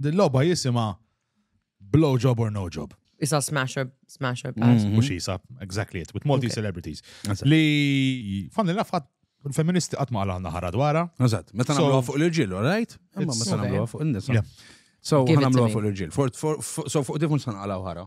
Din logħba jisimha Blow Job or No Job. Isa smash up, smash up. Mm. Mux jisa, exactly it, with multi celebrities. Li, fan li nafħat, il-feministi għatma għala għanna ħara dwara. Għazat, meta namlu fuq l-irġilu, right? Imma meta namlu fuq il-nisa. So, namlu fuq l-irġil. So, fuq diffun san għala ħara.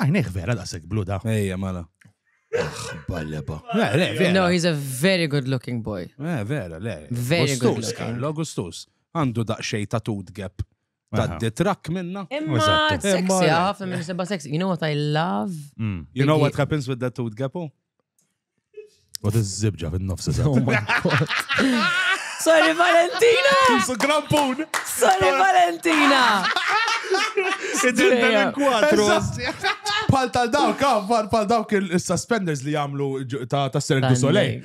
Għajnek ah, vera daqsek blu da. Ejja, mala. Balleba. No, he's a very good looking boy. Eh, vera, le. Very good looking. Karlo Augustus. Għandu daqxej ta' tud gap. Ta' detrak minna. Imma sexy, għafna minn sebba sexy. You know what I love? Mm. You know what happens with that tud gap? Oh? U tizzibġa fin-nofs eżatt. Sorry Valentina! Su grampun! Sorry Valentina! Ġinta minn kwatru. Pal tal dawk, ah, pal- pal dawk il- il-suspenders li jagħmlu ġu- ta' ta' Cirque du Soleil.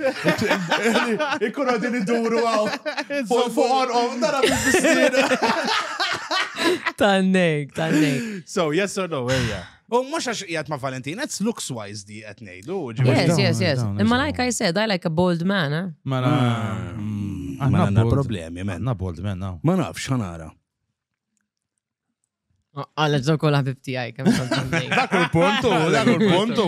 Ikunu għadin iduru għaw. Fuq fuq orqom, nara bil-fissir. Tannek, tannek. So, yes or no, ejja. U mux għax jgħat ma' Valentin, it's looks wise di għet nejdu. Yes, yes, yes. Imma like I said, I like a bold man. Eh? Ma na. Għanna mm, problemi, men. Għanna bold man, now. Ma nafx, għanara. Għalla ġo kol ħabib tijaj, kem Dak il-puntu, dak il-puntu.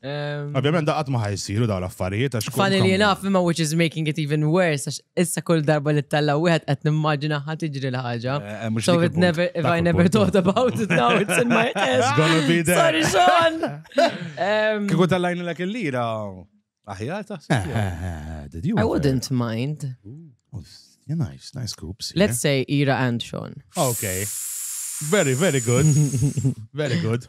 Ovvjament da qatt ma ħajsiru daw l-affarijiet għax. Funny li enough, imma which is making it even worse, għax issa kull darba li talla wieħed qed nimmaġina ħadd tiġri l-ħaġa. Eh, eh, so it never, if I never thought about it now, it's in my head. It's gonna be there. Sorry, Sean! Kiku tallajni l il-lira, aħjar taħseb. Eh, I wouldn't mind. Yeah, nice, nice scoops. Yeah. Let's say Ira and Sean. Okay. Very, very good. very good.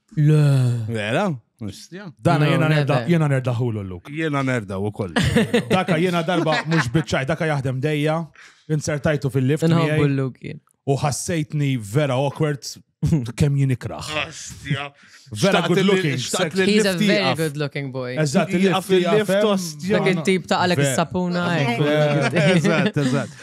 Le. Vera? Mistja. Dana No, jena never. nerda, jena nerda ħulu l-luk. Jena nerda u koll. Daka jena darba mux bitċaj, daka jaħdem dejja, insertajtu fil-lift Nħobbu miegħi l-luk jien. u ħassejtni vera awkward kem jien ikraħ. Mistja. Vera good looking. Xtaqt li He's a l-lift very jaqaf. good looking boy. Eżatt, Jaqaf il-lift il-lift, jaqaf, ostja. Dak hemm. il-tip ta' għalek Vera. is-sapuna. eh. Eżatt, eżatt.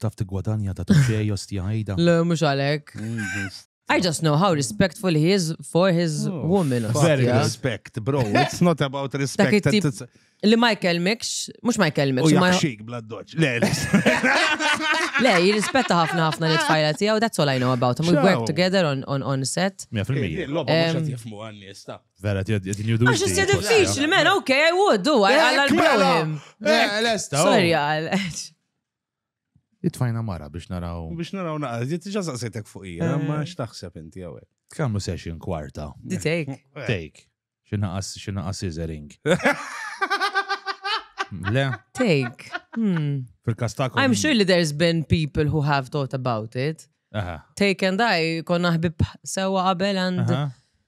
Taf tigwadanja ta' tuxej ostja ħajda. Le, mhux għalhekk. I just know how respectful he is for his oh, woman. Very respect, bro. It's not about respect. Li ma jkellmikx, mux ma jkellmikx. U jaxxik bla doċ. Le, le. Le, jirrispetta ħafna ħafna li tfajla tijaw, that's all I know about him. We work together on, on, on set. 100%. Loba mux għat jifmu għanni, stop. Vera, ti għedin judu. Għax jisja diffiċli, men, ok, I would do, għalla l-problem. Lesta. Oh. Sorry, għal. Itfajna mara biex naraw. Biex naraw naqra, jitġa saqsetek fuq ija, eh. ma xtaħseb inti għawek. Kamlu session kwarta. Di take. Eh. Take. Xinaqas, xinaqas scissoring. Le? Take. Hmm. Fil-kastakom. I'm sure li there's been people who have thought about it. Take and I, konna ħbib sewa qabel and.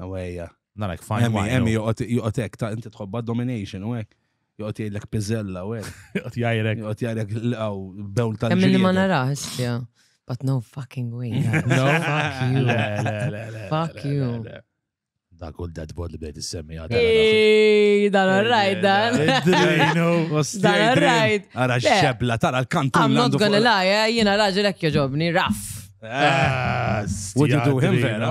Ewejja. Narek fajn. Emmi, emmi, joqgħod hekk ta' inti tħobba domination u hekk. Joqgħod jgħidlek piżella u hekk. Joqgħod jgħidlek. Joqgħod jgħidlek l-qaw bewl tal Emmi li ma narax fiha. But no fucking way. No, fuck you. Fuck you. Dak u dead body bejt is-semmi għadha. Ej, dan rajt dan. Dan rajt. Ara xebla, tara l-kantu. I'm not gonna lie, eh, jena raġel ekk joġobni, raff. Eh, Would you do him vera?